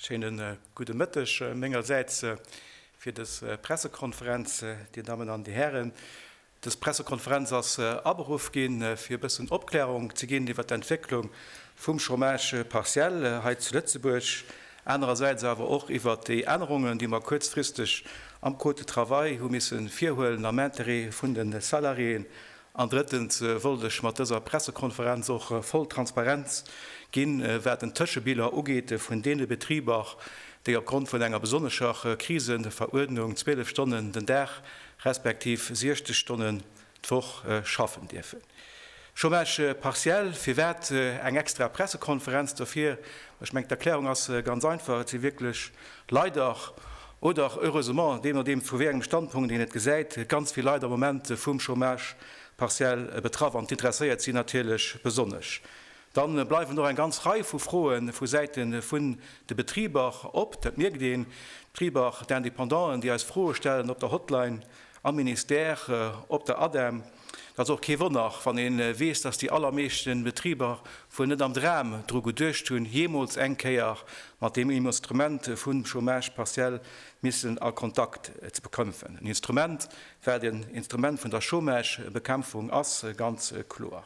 Schéinen gudde Mëtteg mengersäits fir des Pressekonferenz. Dir Dammen an Dir Hären, des Pressekonferenz ass aberuff ginn, fir e bëssen Opklärung ze ginn iwwert d'Entwécklung vum Chômage partiel hei zu Lëtzebuerg, anerersäits awer och iwwert déi Ännerungen, déi mer kuerzfristeg am Code de travail hu misse virhuelen am Intérêt vun de Salariéen An drëttens wollt ech mat dëser Pressekonferenz och voll Transparenz ginn, wat den Tëschebiller ugeet vun deene Betriber, déi opgrond vun enger besonnescher Kriseveruerdnung 12 Stonnen den Dag respektiv 60 Stonnen d'Woch schaffen dierfen. Chômage partiel, firwat eng extra Pressekonferenz dofir? Ech mengen, d'Erklärung ass ganz einfach, Et si wierklech leider oder heureusement, dee nodeem vu wéi engem Standpunkt een et gesäit, ganz vill Leit am Moment vum Chômage partiel betraff an d'intresséiert si natierlech besonnesch. Dann bleiwen och eng ganz Rei vu Froe vu Säite vun de Betriber op, dat mierkt een, d'Betriber, d'Independanten, déi eis Froe stellen op der Hotline am Ministère, op der ADEM. Dat ass och kee Wonner, wann ee weess, datt déi allermeeschten Betriber wuel net am Dram dru geduecht hunn, jeemools eng Kéier mat deem Instrument vum Chômage partiel missen a Kontakt ze bekämpfen. En Instrument, wat en Instrument vun der Chômagebekämpfung ass, ganz kloer.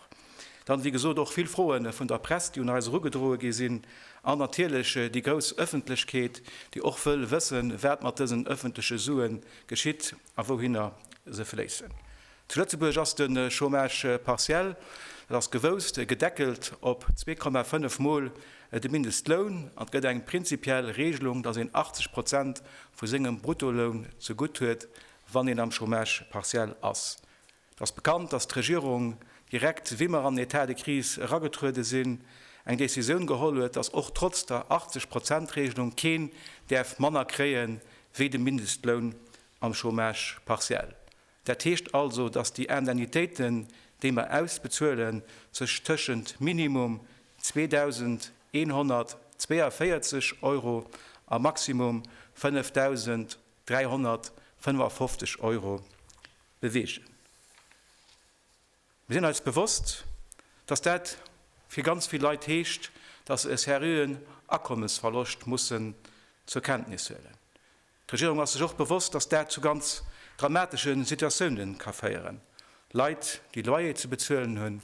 Dann, wéi gesot, och vill Froe vun der Press, déi un eis erugedroe gi sinn, an natierlech déi grouss Ëffentlechkeet, déi och wëll wëssen, wat mat dësen ëffentleche Suen geschitt. a wouhinner se fléissen. Zu Lëtzebuerg ass de Chômage partiel, dat ass gewousst, gedeckelt op 2,5 Mol de Mindestloun an et gëtt eng prinzipiell Regelung, dass een 80 Prozent vu sengem Bruttoloun zegutt huet, wann een am Chômage partiel ass. Et ass bekannt, dass d'Regierung, direkt wéi mer an den Etat de crise eragetruede sinn, eng Decisioun geholl huet, dass och trotz der 80 Prozent Regelung keen däerf manner kréie wéi de Mindestloun am Chômage partiel. Dat heescht also, dass déi Indemnitéiten, déi mer ausbezuelen, sech tëschent minimum 2.142 Euro a maximum 5.355 Euro bewegen. Mir sinn eis bewosst, dass dat fir ganz vill Leit heescht, dass se e seriöen Akommesverloscht mussen zur Kenntnis huelen. D'Regierung ass sech och bewosst, dass dat zu ganz dramatesche Situatiounen ka féieren, Leit, déi Loyer ze bezuelen hunn,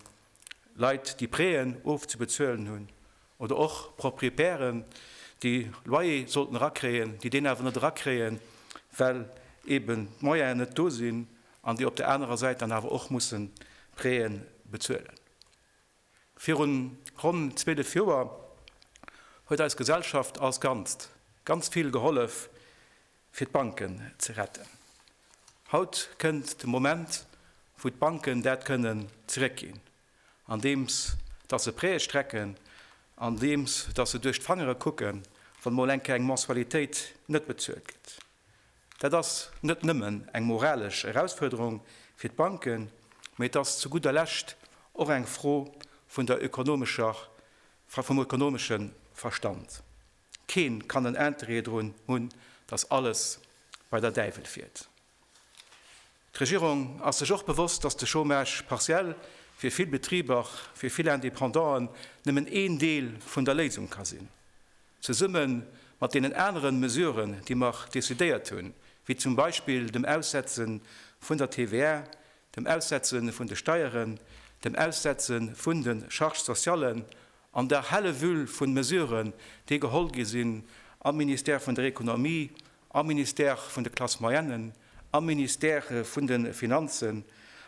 Leit, déi Préen ofzebezuelen hunn, oder och Proprietären, déi Loyer sollten erakréien, déi deen awer net erakréien, well eben d'Moyene net do sinn, an déi op der anerer Säit dann awer och musse Préen bezuelen. Virun ronn 12 Joer huet eis Gesellschaft als Ganzt ganz vill gehollef, fir d'Banken ze retten. Haut kënnt de Moment, wou d'Banken dat kënnen zeréckginn, andeems datt se Prêtë strecken, andeems datt se duerch d'Fangere kucken, wann mol eng Kéier eng Mensualitéit net bezuelt gëtt. Dat ass net nëmmen eng moralesch Erausfuerderung fir d'Banken, mee et ass zu gudder Lescht och eng Fro vun der ökonomescher, vum ökonomeschen Verstand. Keen kann en Interêt drun hunn, dass alles bei der Däiwel fiert. D'Regierung ass sech och bewosst, dass de Chômage partiel fir vill Betriber, fir vill Indépendanten nëmmen een Deel vun der Léisung ka sinn. Zesumme mat deenen aneren Mesuren, déi mer décidéiert hunn, wéi zum Beispill dem Aussetze vun der TVA, dem Aussetze vun de Steieren, dem Aussetze vun de Charges sociallen An der helle Wühl vun Mesuren, déi geholl gi sinn am Ministère vun der Ekonomie, am Ministère vun de Classes moyennes, am Ministère vun de Finanzen,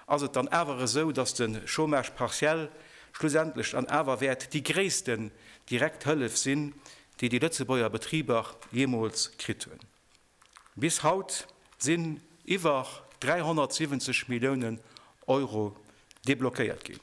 ass et dann awer esou, dass de Chômage partiel schlussendlech dann awer wäert déi gréissten direkt Hëllef sinn, déi déi Lëtzebuerger Betriber jeemools kritt hunn. Bis haut sinn iwwer 370 Milliounen Euro deblockéiert ginn.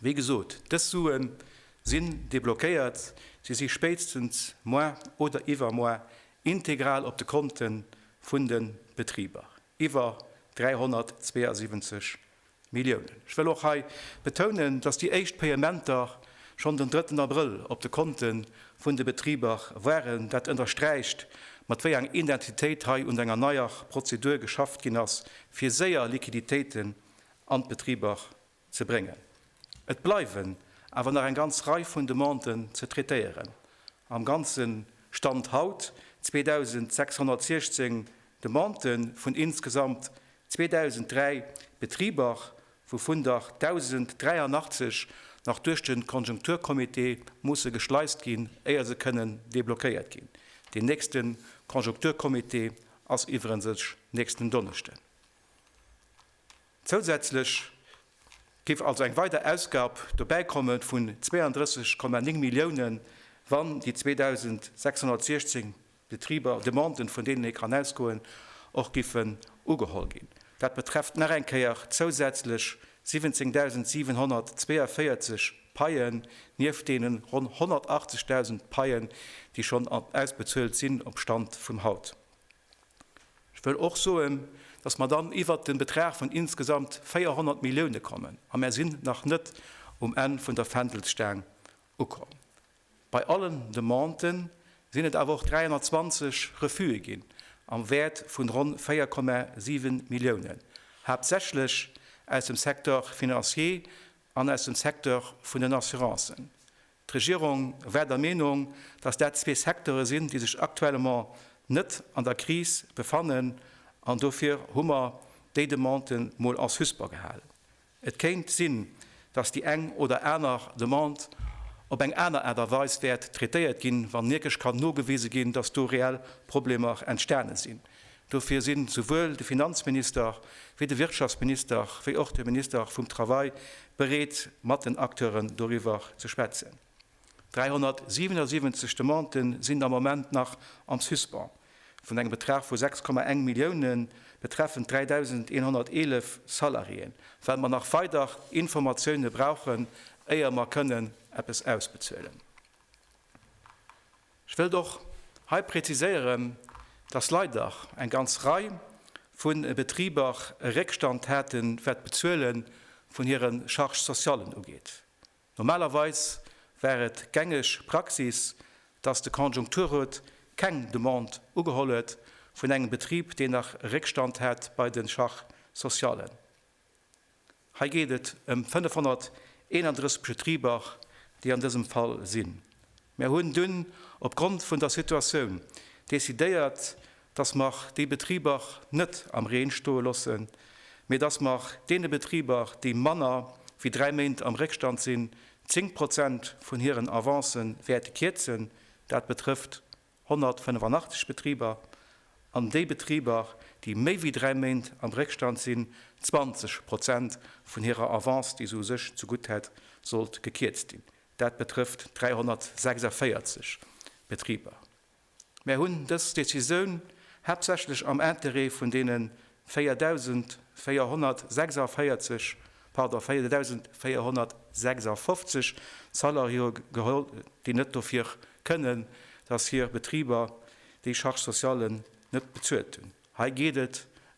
Wéi gesot, dës Sue sinn deblockéiert, se si spéitstens moar oder iwwermoar integral op de Konte vun de Betriber, iwwer 372 Milliounen. Ech wëll och hei betounen, dass déi éischt Payementer schonn den drëtten Abrëll op de Konte vun de Betriber waren. Dat ënnersträicht, mat wéi eng Intensitéit hei un enger neier Prozedur geschafft ginn ass, fir séier Liquiditéiten an d'Betriber ze bréngen. Et bleiwen awer nach eng ganz Rei vun Demanden ze traitéieren. Am Ganze Stand haut 2.616 Demandë vun insgesamt 2.003 Betriber, wouvun der 1.083 nach duerch de Konjunkturcomité musse geschleist ginn, éier se kënnen deblockéiert ginn. Deen nächste Konjunkturcomité ass iwwerensech nächsten Donneschden. Zousätzlech géif also eng weider Ausgab dobäikommen vun 32,9 Milliounen, wann déi 2.616 Betriber, Demanden, vun deenen ee kann ausgoen, och giffen ugeholl ginn. Dat betrefft nach eng Kéier zousätzlech 17.742 Paien, nieft deene ronn 180.000 Paien, déi schonn ausbezuelt sinn, op Stand vum haut. Ech wëll och soen, dass mer dann iwwert de Betrag vun insgesamt 400 Millioune kommen, a mer sinn nach net um Enn vun der Fändelsstaang ukomm. Bei allen Demanden sinn et awer och 320 Refuse ginn am Wäert vun ronn 4,7 Milliounen, haaptsächlech aus dem Secteur financier an aus dem Secteur vun den Assurancen. D'Regierung war der Meenung, dass dat zwee Secteure sinn, déi sech actuellement net an der Kris befannen, an dofir hu mer déi Demande mol en suspens gehalen. Et kéint sinn, dass déi eng oder aner Demande op eng aner Aart a Weis wäert traitéiert ginn, wann wierklech kann nogewise ginn, dass do reell Problemer entstane sinn. Dofir sinn esouwuel de Finanzminister wéi de Wirtschaftsminister wéi och de Minister vum Travail bereet mat den Acteuren doriwwer ze schwätzen. 377 Demandë sinn am Moment nach en suspens vun engem Betrag vu 6,1 Milliounen betreffend 3.111 Salariéen, well mer nach weider Informatioune brauchen, éier mer kënnen eppes ausbezuelen. Ech wëllt och hei präziséieren, dass leider eng ganz Rei vu Betriber e Réckstand haten, wat d'Bezuele vun hire Charges socialen ugeet. Normalerweis war et gängeg Praxis, dass de Konjunkturrot keng Demande ugeholl huet vun engem Betrib, deen nach e Réckstand hat bei de Charges socialen. Hei geet et ëm 531 Betriber, déi an dësem Fall sinn. Mer hunn dunn opgrond vun der Situatioun decidéiert, dass mer déi Betriber net am Reen stoe loossen, mee dass mer deene Betriber, déi manner wéi dräi Méint am Réckstand sinn, zéng Prozent vun hiren Avancen wäerte kierzen. Dat betrëfft 185 Betriber, an déi Betriber, déi méi wéi dräi Méint am Réckstand sinn, 20 Prozent vun hirer Avance, déi se u sech zegutt hätt, sollt gekierzt ginn. Dat betrëfft 346 Betriber. Mär hunn dës Decisioun haaptsächlech am Interêt vun deene 4446, pardon, 4456 Salariéeë geholl, déi net dofir kënnen, dass hir Betriber déi Charges socialen net bezuelt hunn. Hei geet et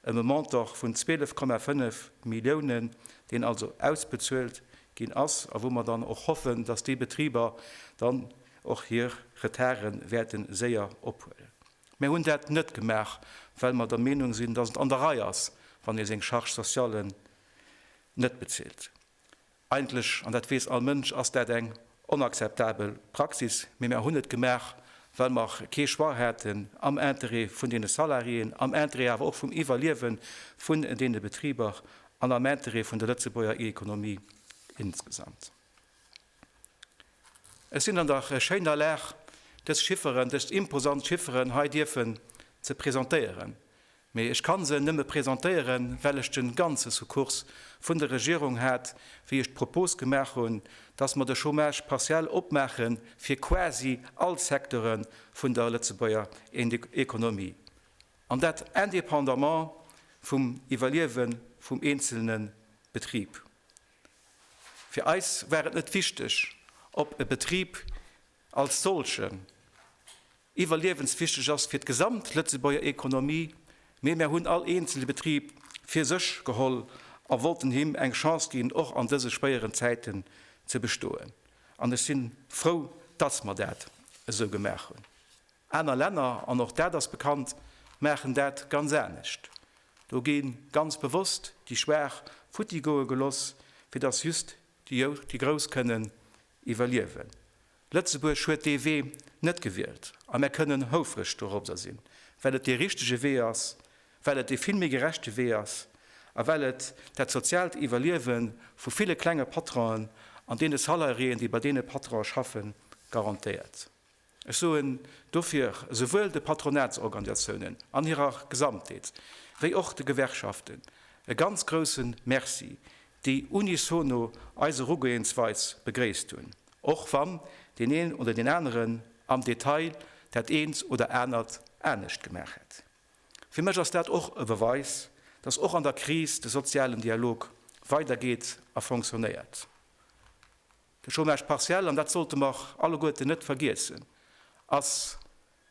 ëm e Montant vun 12,5 Milliounen, deen also ausbezuelt ginn ass a wou mer dann och hoffen, dass déi Betriber dann och hir Retarde wäerte séier ophuelen. Mir hunn dat net gemaach, well mer der Meenung sinn, dass et an der Rei ass, wann ee seng Charges socialen net bezilt. Eigentlech, an dat weess all Mënsch, ass dat eng onakzeptabel Praxis, mee mer hunn et gemaach, well mer kee Choix haten, am Interêt vun deene Salariéen, am Interêt awer och vum Iwwerliewe vun deene Betriber an am Interêt vun der Lëtzebuerger Economie insgesamt. Ech sinn an der schéiner Lag, dës Chifferen, dës imposant Chifferen hei dierfen ze presentéieren, mee ech kann se nëmme presentéieren, well ech de ganze Sukkurs vun der Regierung hat, wéi ech d'Propos gemaach hunn, dass mer de Chômage partiel opmaache fir quasi all Secteure vun der Lëtzebuerger Economie, an dat indépendamment vum Iwwerliewe vum eenzelne Betrib. Fir eis war et net wichteg, ob e Betrib als solchen iwwerliewenswichteg ass fir d'gesamt Lëtzebuerger Ekonomie, mee mär hunn all eenzele Betrib fir sech geholl a wollten him eng Chance ginn, och an dëse schwéieren Zäiten ze bestoen. An ech si frou, dass mer dat esou gemaach hunn. Aner Länner, an och dat ass bekannt, maachen dat ganz anescht. Do gi ganz bewosst déi Schwaach futti goe geloss, fir datt just déi Grouss kënnen iwwerliewen. Lëtzebuerg huet dee Wee net gewielt a mär kënnen houfreg dorobber sinn, well et dee richtege Wee ass, well et dee vill méi gerechte Wee ass a well et dat soziaalt Iwwerliewe vu ville klenge Patronen an deene Salariéen, déi bei deene Patronen schaffen, garantéiert. Ech soen dofir esouwuel de Patronatsorganiatiounen an hirer Gesamtheet wéi och de Gewerkschaften e ganz grouse Merci, déi unisono eis Erugoeensweis begréisst hunn, och wann deen een oder deen aneren am Detail dat eent oder anert anescht gemaach hätt. Fir mech ass dat och e Beweis, dass och an der Kris de sozialen Dialog weidergeet a fonctionnéiert. De Chômage partiel, an dat sollte mer alleguerten net vergiessen, ass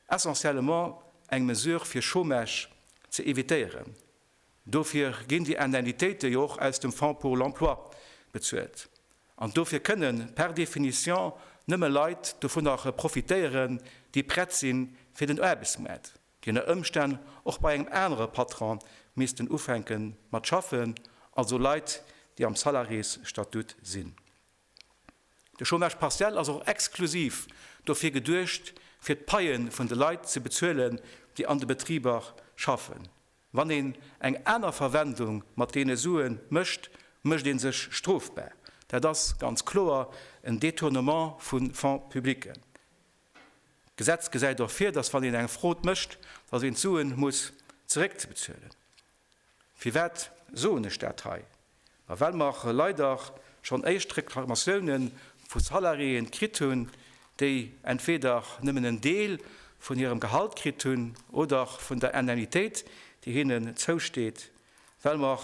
essentiellement eng Mesure fir Chômage ze évitéieren. Dofir ginn déi Indemnitéite jo och aus dem Fonds pour l'emploi bezuelt. An dofir kënne par définition nëmme Leit dovunner profitéieren, déi prett sinn fir den Aarbechtsmaart. déi ënner Ëmstänn och bei engem anere Patron missten ufänke mat schaffen, also Leit, déi am Salariés-Statut sinn. De Chômage partiel ass och exklusiv dofir geduecht, fir d'Paie vun de Leit ze bezuelen, déi an de Betriber schaffen. Wann een eng aner Verwendung mat deene Sue mécht, mécht ee sech strofbar. Dat ass ganz kloer en Détournement vu Fonds publicken. D'Gesetz gesäit och vir, dass wann een eng Frod mécht, dass een d'Suen muss zeréckbezuelen. Firwat soen ech dat hei? Ma well mer leider schonn éischt Reklamatioune vu Salariéen kritt hunn, déi entweder nëmmen en Deel vun hirem Gehalt kritt hunn oder vun der Indemnitéit, déi hinnen zousteet, Well mer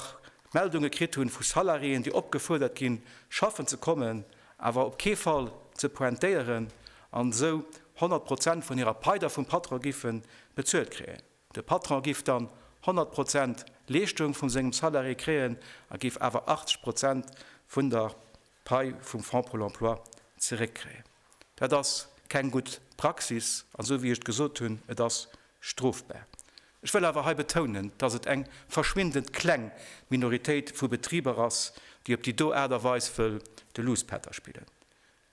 Meldunge kritt hunn vu Salariéen, déi opgefuerdert ginn, schaffen ze kommen, awer op kee Fall ze pointéieren an esou 100 Prozent vun hirer Pai da vum Patron giffen bezuelt kréien. De Patron giff dann 100 Prozent Leeschtung vum sengem Salarié kréien a giff awer 80 Prozent vun der Pai vum Fonds Pôle Emploi zeréckkréien. Dat ass keng gutt Praxis, an esou wéi ech et gesot hunn, et ass strofbar. Ech wëll awer hei betounen, dass et eng verschwindend kleng Minoritéit vu Betriber ass, déi op déi do Aart a Weis wëll de Luuspätter spillen.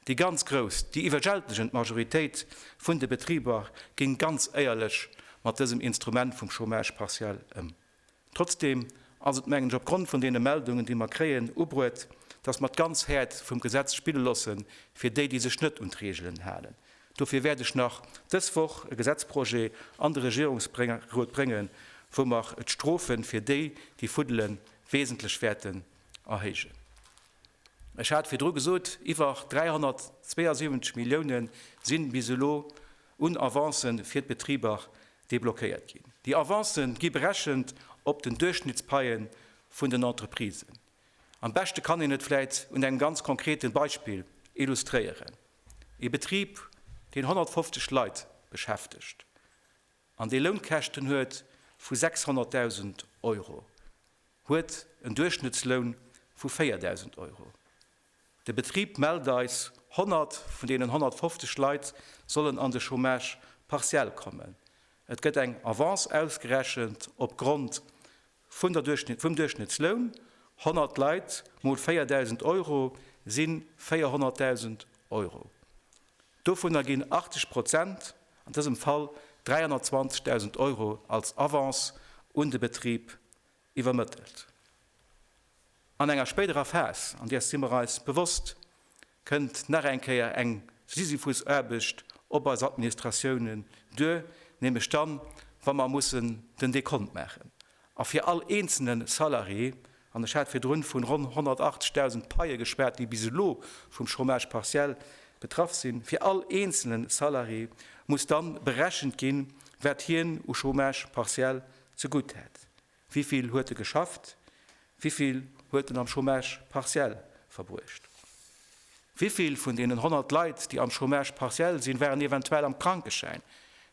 Déi ganz grouss, déi iwwerwältegend Majoritéit vun de Betriber géing ganz éierlech mat dësem Instrument vum Chômage partiel ëm. Trotzdeem ass et, mengen ech, opgrond vun deene Meldungen, déi mer kréien, ubruet, dass mer d'ganz Häert vum Gesetz spille loosse fir déi, déi sech net un d'Reegelen halen. Dofir wäert ech nach dës Woch e Gesetzprojet an de Regierungsrot bréngen, wou mer d'Strofe fir déi, déi fuddelen, wesentlech wäerten erhéijen. Ech hat virdru gesot, Iwwer 372 Milliounen si bis elo un Avancë fir d'Betriber Deblockéiert ginn. Déi Avancë gi berechent op den Duerchschnittspaie vun den Entreprisen. Am beschte kann een et vläit un engem ganz konkrete Beispill illustréieren, Ee Betrib, deen 150 Leit beschäftegt an dee Lounkäschten huet vu 600.000 Euro, huet en Duerchschnëttsloun vu 4.000 Euro. De Betrib mellt eis, 100 vun deenen 150 Leit sollen an de Chômage partiel kommen. Et gëtt eng Avance ausgerechent op Grond vun der Duerchschnitt, vum Duerchschnittsloun, 100 Leit mol 4.000 Euro si 400.000 Euro. Dovunner ginn 80 Prozent, an dësem Fall 320.000 Euro, als Avance un de Betrib iwwermëttelt. An enger spéiderer Phas, an där si mer eis bewosst, kënnt nach eng Kéier eng Sisyphusaarbecht op eis Administratiounen duer, nämlech dann, wa mer mussen den Dekont maachen a fir all eenzelne Salarié, an ech hat virdrun vun ronn 180.000 Paie geschwat, déi bis elo vum Chômage partiel betraff sinn, fir all eenzelne Salarié muss dann berechent ginn, wat hien u Chômage partiel zegutt hätt. Wivill huet e geschafft? Wivill huet en am Chômage partiel verbruecht? Wivill vun deenen 100 Leit, déi am Chômage partiel sinn, waren eventuell am Krankeschäin?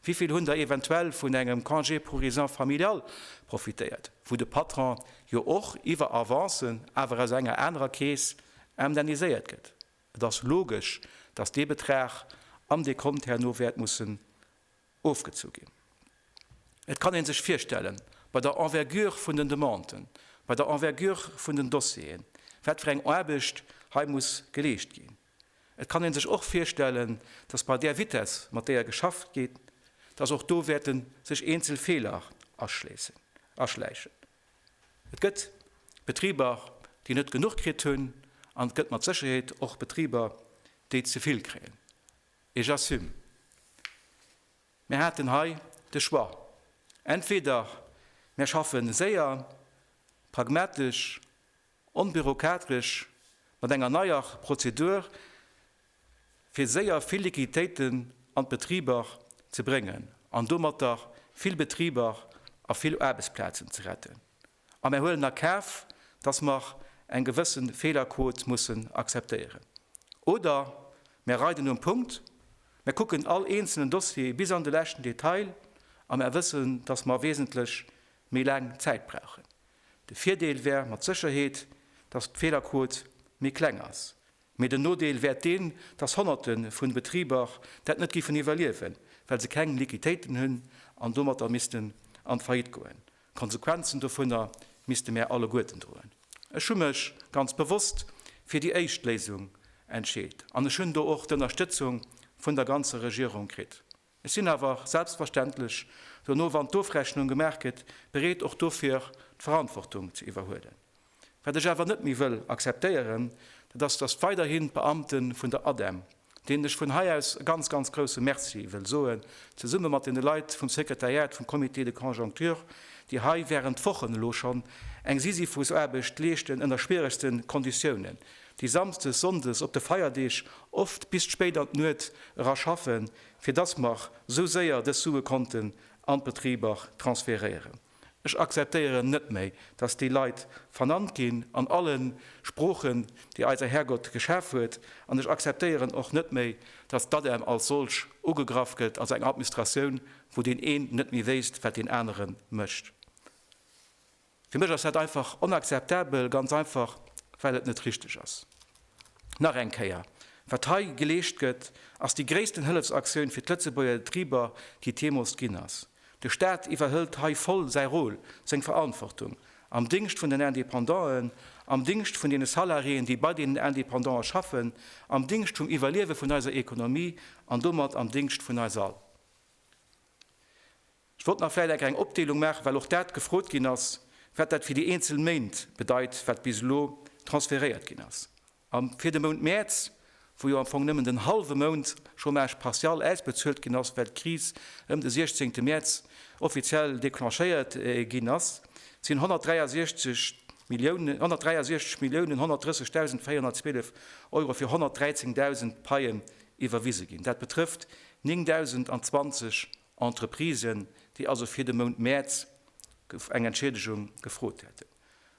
Wivill hunn der eventuell vun engem Congé pour raisons familiales profitéiert, wou de Patron jo och iwwer Avancen, awer aus enger anerer Keess, indemniséiert gëtt? Et ass logesch, dass dee Betrag am Dekont herno wäert mussen ofgezu ginn. Et kann ee sech virstellen, bei der Envergure vun den Demanden, bei der Envergure vun den Dossieren, wat fir eng Aarbecht hei muss geleescht ginn. Et kann ee sech och virstellen, dass bei där Vitesse, mat déier geschafft gétt, dass och do wäerte sech eenzel Feeler aschläichen. Et gëtt Betriber, déi net genuch kritt hunn, an et gëtt mat Sécherheet och Betriber, déi ze vill kréien. Et j'assume. Mär haten hei de Choix, entweder mär schaffe séier, pragmatesch, onbürokatresch mat enger neier Prozedur, fir séier vill Liquiditéiten an d'Betriber ze bréngen an domatter vill Betriber a vill Aarbechtsplazen ze retten, A mär huelen a Kaf, dass mer eng gewësse Feelerquot mussen akzeptéieren. Oder mär reiden um Punkt, mär kucken all eenzelnen Dossier bis an de leschten Detail a mär wëssen, dass mer wesentlech méi laang Zäit brauchen. De Virdeel wär mat Sécherheet, dass d'Feelerquot méi kleng ass. Mee den Nodeel wär deen, dass Honnerte vu Betriber dat net giffen iwwerliewen, well se keng Liquitéiten hunn an domatter missten an d'Faillite goen. D'Konsequenzen dovunner misste mär alleguerten droen. Ech hu mech ganz bewosst fir déi éischt Léisung entscheet an ech hunn do och d'Ënnerstëtzung vun der ganzer Regierung kritt. Ech sinn awer selbstverständlech dono, wann d'Ofrechnung gemaach gëtt, bereet och dofir d'Verantwortung ze iwwerhuelen. Wat ech awer net méi wëll akzeptéieren, dat ass, datt weiderhin d'Beamte vun der ADEM, deenen ech vun hei aus e ganz, ganz grouse Merci wëll soen, zesumme mat deene Leit vum Sekretariat vum Comité de conjoncture, déi hei während Wochen elo schonn eng Sisyphusaarbecht leeschten ënner schwieregste Konditiounen, déi samsdes, sonndes, op de Feierdeeg oft bis spéit an d'Nuet era schaffen, fir datt mer esou séier dës Sue konnten an d'Betriber transferéieren. Ech akzeptéieren net méi, dass déi Leit vernannt ginn an alle Sproochen, déi eiser Härgott geschaf huet, an ech akzeptéieren och net méi, dass d'ADEM als solch ugegraff gëtt, als eng Administratioun, wou deen een net méi wéisst, wat deen anere mécht. Fir mech ass dat einfach onakzeptabel, ganz einfach, well et net richtig ass. Nach eng Kéier, Wat hei geleescht gëtt, ass déi gréissten Hëllefsaktioun fir d'Lëtzebuerger Getrieber, déi et jeemools ginn ass. De Staat iwwerhëlt hei voll säi Rôle, seng Verantwortung, am Dingscht vun den Independanten, am Dingscht vun deene Salariéen, déi bei deenen Independanten schaffen, am Dingscht vum Iwwerliewe vun eiser Ekonomie an domat am Dingscht vun eis all. Ech wollt nach vläit enker eng Opdeelung maachen, well och dat gefrot ginn ass, wat dat fir déi eenzel Méint bedeit, wat bis elo transferéiert ginn ass. A fir de Mount Mäerz, wou jo am Fong nëmmen den hallwe Mount Chômage partial ausbezuelt ginn ass, well d'Kris ëm de 16 Mäerz offiziell declenchéiert ginn ass, sinn 163 Milliounen 130.412 Euro fir 113.000 Paien iwwerwise ginn. Dat betrëfft 9.020 Entreprisen, déi also fir de Mount Mäerz eng Entschiedegung gefrot hätten.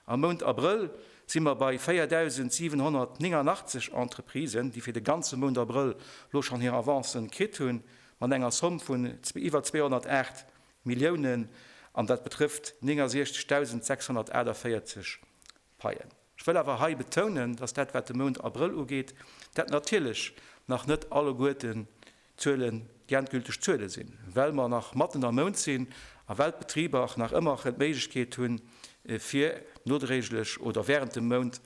Am Mount Abrëll si mer bei 4.789 Entreprisen, déi fir de ganze Mount Abrëll elo schonn hir Avancen kritt hunn, mat enger Somm vun iwwer 208 Milliounen, an dat betrëfft 69.648 Paien. Ech wëll awer hei betounen, dass dat, wat de Mount Abrëll ugeet, dat natierlech nach net alleguerten d'Zuele, déi endgülteg Zuele sinn, well mer nach matten am Mount sinn a well d'Betriber och nach ëmmer erëm d'Méiglechkeet hunn, fir nodréiglech oder während dem Mount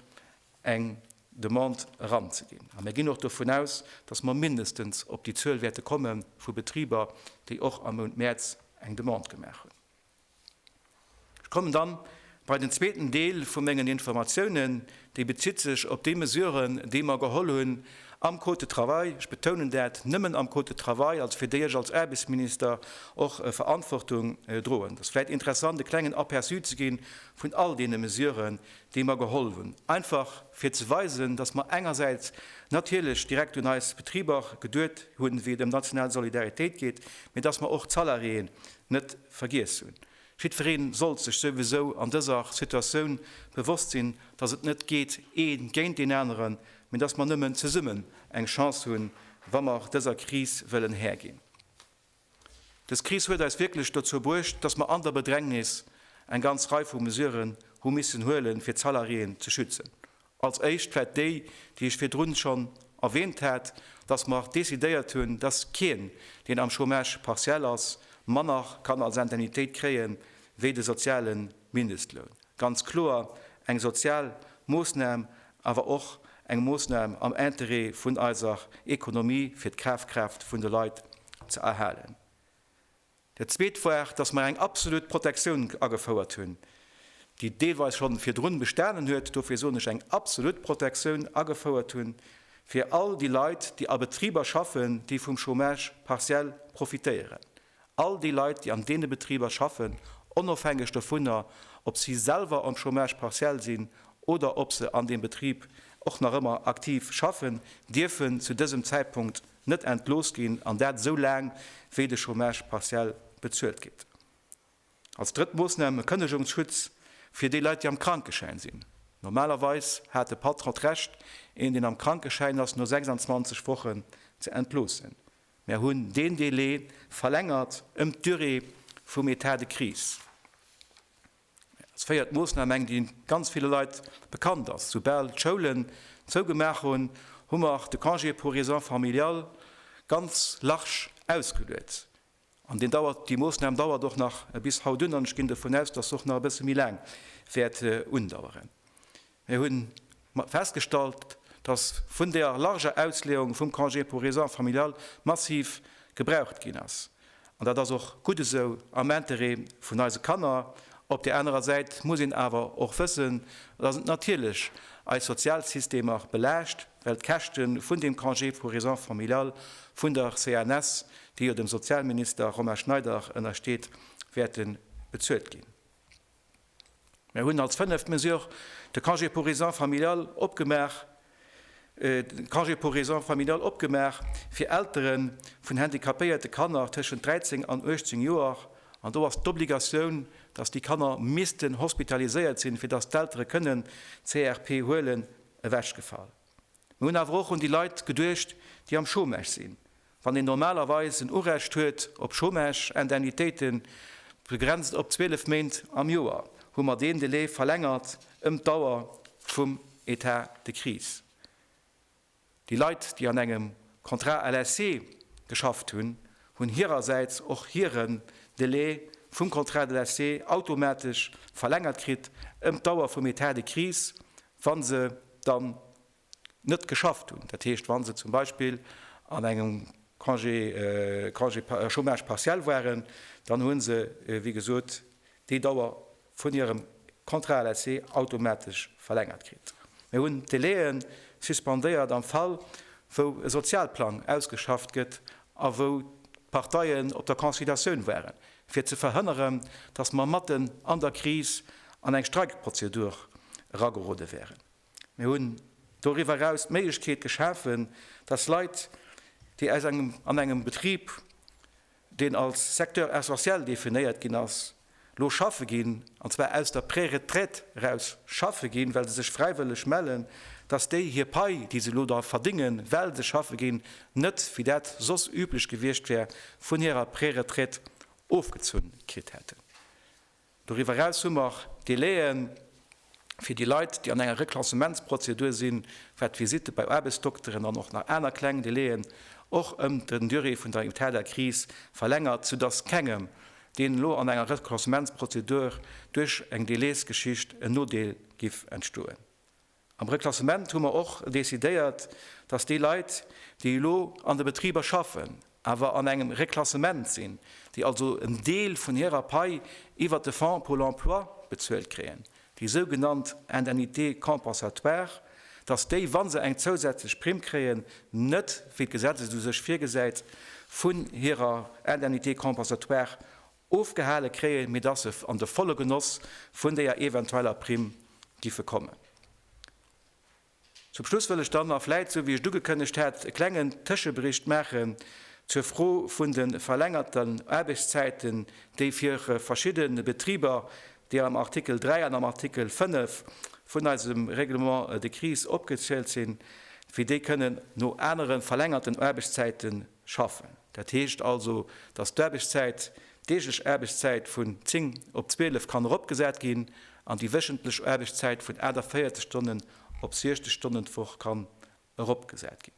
eng Demande eranzeginn. A mir ginn och dovun aus, dass mer mindestens op déi Zuel wäerte komme vu Betriber, déi och am Mount Mäerz eng Demande gemaach hunn. Kommen dann bei den zweeten Deel vu mengen Informatiounen, dee bezitt sech op déi Mesuren, déi mer geholl hunn am Code de travail, ech betounen dat, nëmmen am Code de travail, also fir déi ech als Aarbechtsminister och Verantwortung droen. Et ass vläicht interessant e klengen Aperçu ze gi vun all deene Mesuren, déi mer geholl hunn, einfach fir ze weisen, dass mer engersäits natierlech direkt un eis Betriber geduet hunn, wéi et ëm national Solidaritéit geet, mä dass mer och d'Salariéen, net vergiess hunn. Jiddweree sollt sech souwisou an dëser Situatioun bewosst sinn, dass et net geet ee géint een aneren, mee dass mer nëmmen zesummen eng Chance hunn, wa mer dëser Kris wëllen Här ginn. Dës Kris huet eis wierklech dozou bruecht, dass mer an der Bedrängnis eng ganz Rei vu Mesuren hu missen huelen, fir d'Salariéen ze schützen, Als éischt vläit déi, déi ech virdrun schonn erwähnt hat, dass mer décidéiert hunn, dass keen, deen am Chômage partiel ass, manner kann als Indemnitéit kréie wéi de soziale Mindestloun. Ganz kloer eng sozial Moosnam, awer och eng Moosnam am Interêt vun eiser Economie, fir d'Kafkraaft vun de Leit ze erhalen. Dat Zweet war, dass mer eng absolut Protektioun agefouert hunn, déi deelweis scho virdrun bestanen huet, dofir soen ech eng absolut Protektioun agefouert hunn, fir all déi Leit, déi a Betriber schaffen, déi vum Chômage partiel profitéieren, all déi Leit, déi an deene Betriber schaffen, onofhängeg dovunner, ob si selwer am Chômage partiel sinn oder ob se an deem Betrib och nach ëmmer aktiv schaffen, dierfen zu dësem Zäitpunkt, net entlooss ginn, an dat esou laang wéi de Chômage partiel bezuelt gétt. Als drëtt Moossnam e Kënnegungsschutz fir déi Leit, déi am Krankeschäin sinn. Normalerweis hat de Patron d'Recht, een deen am Krankeschäin ass no 26 Wochen ze entloossen. Mär hunn deen Delai verlängert ëm d'Durée vum Etat de crise. Als véiert Moossnam eng, déi ganz ville Leit bekannt ass, Soubal d'Schoulen zougemaach hunn, hu mer de Congé pour raisons familiales ganz large ausgeluet. An deen dauert, déi Moossnam dauert och nach bis haut un an ech ginn dovun aus, dass se och nach e bësse méi laang wäert undaueren. Mir hunn festgestallt, dass vun deer larger Ausleeung vum Congé pour raisons familiales massiv gebraucht ginn ass. An dat ass och gutt esou, am Intérêt vun eise Kanner. Op deer anerer Säit muss een awer och wëssen, dass et natierlech eis Sozialsystemer belaascht, well d'Käschte vun deem Congé pour raisons familiales vun der CNS, déi jo dem Sozialminister Romain Schneider ënnersteet, wäerte bezuelt ginn. Mir hunn als fënneft Mesure de Congé pour raisons familiales opgemaach, de Congé pour raisons familiales opgemaach fir Eltere vun handicapéierte Kanner tëschent 13 an 18 Joer. An do ass d'Obligatioun, dass déi Kanner missten hospitaliséiert sinn, fir dass d'Eltere kënnen CRP huelen, ewechgefall. Mir hunn awer och un déi Leit geduecht, déi am Chômage sinn. Wann een normalerweis en Urecht huet op Chômage-Indemnitéiten, begrenzt op 12 Méint am Joer, hu mer deen Delai verlängert ëm d'Dauer vum Etat de crise. Déi Leit, déi an engem Contrat à laisser geschafft hunn, hunn hirersäits och hiren Delai vum Contrat de laisser automatesch verlängert kritt ëm d'Dauer vum Etat de crise, Wa se dann net geschafft hunn, dat heescht, wa se zum Beispill an engem Congé, Congé, Chômage partiel waren, dann hu se, wéi gesot, déi Dauer vun hirem Contrat LSE automatesch verlängert kritt. Mir hunn d'Délaië suspendéiert am Fall, wou e Sozialplang ausgeschafft gëtt a wou d'Parteien op der Conciliatioun waren. fir ze verhënneren, datt mer matten an der Kris an eng Streikprozedur eragerode wären. Mir hunn doriwwer eraus d'Méiglechkeet geschafen, datt Leit, déi aus engem an engem Betrib, deen als Secteur essentiel definéiert ginn ass, elo schaffe ginn, an zwar aus der Préretraite eraus schaffe ginn, well se sech fräiwëlleg mellen, datt déi hir Pai, déi se elo da verdingen, well se schaffe ginn, net, wéi dat soss üblech gewiescht wär, vun hirer Préretraite ofgezunn kritt hätten. Doriwwer eraus hu mer Délai'en fir déi Leit, déi an enger Reklassementsprozedur sinn, wat d'Visitte bei Aarbechtsdokteren an och nach aner kleng Délai'en, och ëm den Durée vun der état de crise verlängert, soudass kengem, deen elo an enger Reklassementsprozedur duerch eng Délaisgeschicht en Nodeel giff entstoen. Am Reklassement hu mer och decidéiert, dass déi Leit, déi elo an de Betriber schaffen, awer an engem Reklassement sinn, déi also en Deel vun hirer Pai iwwert de Fonds Pôle emploi bezuelt kréien, déi sougenannt Indemnité compensatoire, dass déi, wa se eng zousätzlech Primm kréien, net, wéi d'Gesetz et u sech virgesäit, vun hirer Indemnité compensatoire Ofgehale kréie mir dass se an de volle Genoss vun deeër eventueller Primm giffe kommen. Zum Schluss wëll ech dann, a vläit esou wéi ech et ugekënnegt hat, e klengen Tëschebericht maachen zur Fro vun de verlängerten Aarbechtszäiten, déi fir verschidde Betriber, déi am Artikel 3 an am Artikel 5 vun eisem Règlement de crise opgezielt sinn, fir déi kënnen no anere verlängerten Aarbechtszäite schaffen. Dat heescht also, dass d'Aarbechtszäit, d'deeglech Aarbechtszäit vun 10 op 12 kann eropgesat ginn an déi wéchentlech Aarbechtszäit vun 48 Stonnen op 60 Stonnen d'Woch kann eropgesat ginn.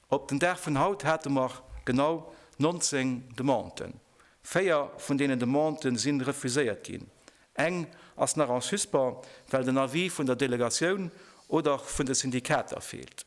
Op den Dag vun haut hate mer genau 19 Demanden. Véier vun deenen Demandë si refuséiert ginn. Eng ass nach en suspens, well den Avis vun der Delegatioun oder vun de Syndikater feelt.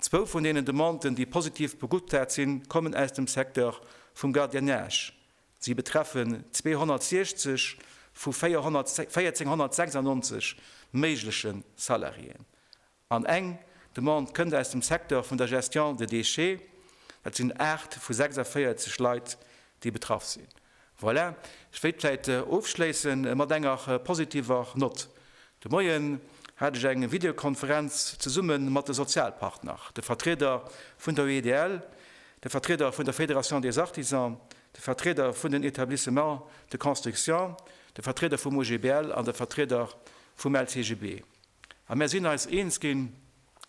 Zwou vun deenen Demanden, déi positiv beguttat sinn, kommen aus dem Secteur vum Gardiennage. Si betreffen 260 vu 4.496 méigleche Salariéen. An eng Demande kënnt aus dem Secteur vun der Gestion de déchets. Dat sinn 8 vu 46 Leit, déi betraff sinn. Voilà, ech wéilt vläit ofschléisse mat enger positiver Nott. De Moien hat ech eng Videokonferenz zesumme mat de Sozialpartner, de Vertrieder vun der UEDL, de Vertrieder vun der Fédération des Artisans, de Vertrieder vun den Etablissements de construction, de Vertrieder vum OGBL an de Vertrieder vum LCGB. A mär sinn eis eens ginn.